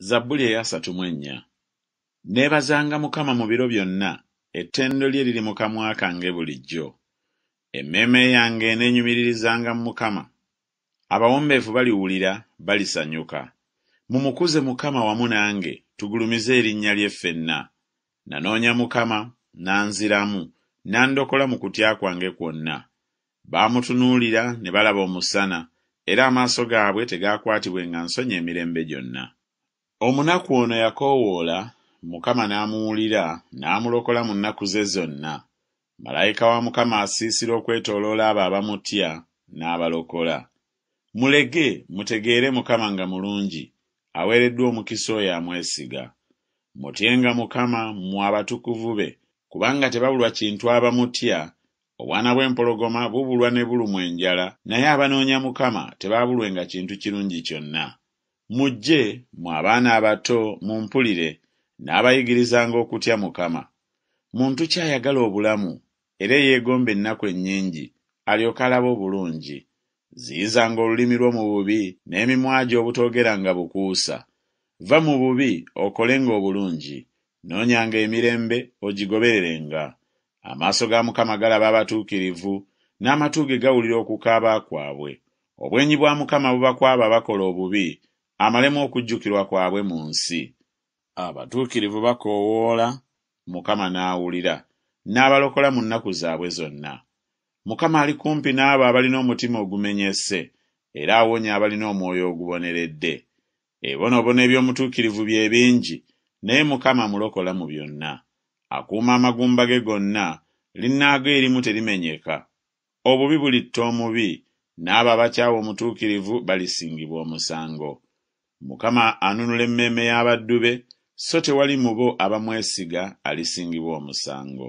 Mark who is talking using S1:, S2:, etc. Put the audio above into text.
S1: Zabbuli eyasatu mu ennya. Nneebazanga Mukama mu biro byonna, ettendo lye liri mu kamwa kange bulijjo. Emmeeme yange eneenyumiririzanga mu Mukama. Abawombeefu baliwulira, balisanyuka. Mumukuze Mukama wamu nange, tugulumize erinnya lye ffenna. Nanoonya Mukama, n'anziramu, n'andokola mu kutya kwange kwonna. Baamutunuulira ne balaba Omusana, era amaaso gaabwe tegaakwatibwenga nsonyi emirembe gyonna. Omunaku ono yakoowoola, Mukama n'amuwulira, n'amulokola mu nnaku ze zonna. Malayika wa Mukama asiisira okwetooloola abo abamutya, n'abalokola. Mulege, mutegeere Mukama nga mulungi, aweereddwa omukisa oyo amwesiga. Mutyenga Mukama, mmwe abatukuvu be, kubanga tebabulwa kintu abamutya, Obwana bw'empologoma bubulwa ne bulumwa enjala, naye abanoonya Mukama tebaabulwenga kintu kirungi kyonna. Mujje, mmwe abaana abato, mumpulire, nnaabayigirizanga okutya Mukama. Muntu ki ayagala obulamu, era eyeegomba ennaku ennyingi, alyoke alabe obulungi? Ziyizanga olulimi lwo mu bubi, n'emimwa gyo obutoogeranga bukuusa. Va mu bubi, okolenga obulungi. Noonyanga emirembe, ogigobererenga. Amaaso ga Mukama galaba abatuukirivu, n'amatu ge gawulira okukaaba kwabwe. Obwenyi bwa Mukama buba kw'abo abakola obubi, amalemu okujjukirwa kwabwe mu nsi. Abatuukirivu bakoowoola, Mukama n'awulira, n'abalokola mu nnaku zaabwe zonna. Mukama ali kumpi n'abo abalina omutima ogumenyese, era awonya abalina omwoyo oguboneredde. Ebibonoobono eby'omutuukirivu bye bingi, naye Mukama amulokola mu byonna. Akuuma amagumba ge gonna, linnaago erimu terimenyeka. Obubi bulitta omubi, n'abo abakyawa omutuukirivu balisingibwa omusango. Mukama anunula emmeeme y'abaddu be, so tewali mu bo abamwesiga alisingibwa omusango.